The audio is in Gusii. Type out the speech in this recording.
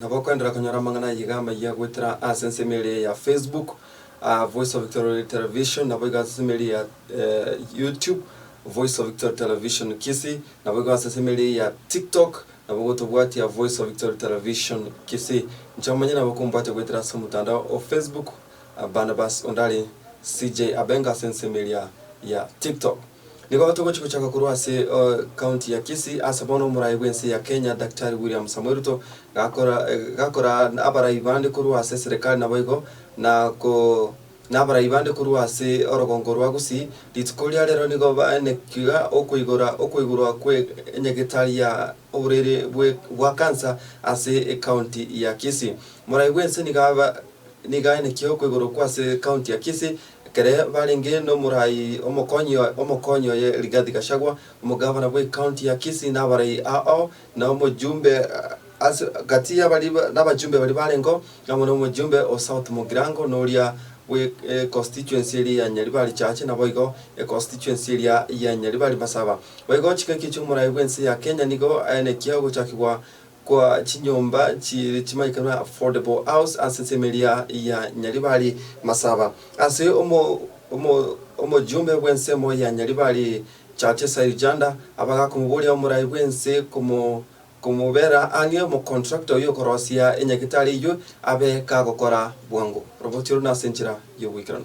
Nabo okoenderera konyora amang'ana ayio iga amayia goetera ase ensemo eria ya Facebook, Voice of Victory Television, naboigo ase ensemo eria ya YouTube, Voice of Victory Television Kisii, naboigo ase ensemo eria ya TikTok, nabo gotobwatia Voice of Victory Television Kisii. Inche omonyene nabo okombwatia goetera ase omotandao o Facebook, Barnabas Ondari CJ Abenga ase ensemo eria ya TikTok. Nigo togochia gochaka korwa ase county ya Kisii, ase bono omorai bw'ense ya Kenya Daktari William Samoei Ruto gakora gakora abarai bande korwa ase serikali naboigo na ko nabarai bande korwa ase orogongo rwa Gusii, rituko ria rero nigo baenekiga okoigora okoigorwa kwe nyagetari ya oborwaire bwe bwa cancer ase ecounty ya Kisii. Morai bw'ense niga nigaenekia okoigorwa kwase county ya Kisii, Ekero barenge n'omorai omokonyi omokonyi oye Rigathi Gachagua, omogavana bw'ecounty ya Kisii nabarai ao na omojumbe ase gati yabari nabajumbe baria barengeo amo nomojumbe o South Mugirango na oria bwe econstituency eria ya Nyaribari Chache naboigo econstituency eria ya Nyaribari Masaba. Boigo ching'aki chiomorai bw'ense ya Kenya nigo aenekia ogochakigwa kwa chinyomba chiire chimanyete buna affordable house ase semeria ya Nyaribari Masaba ase omojumbe bw'ensemo ya Nyaribari Chache Sairjanda abagakomoboria omorai bw'ense komobera ang'e omocontractor oyio okorosia enyagitari eyio abe kagokora bwango. Robotio runa ase enchera y'ogoikeranu.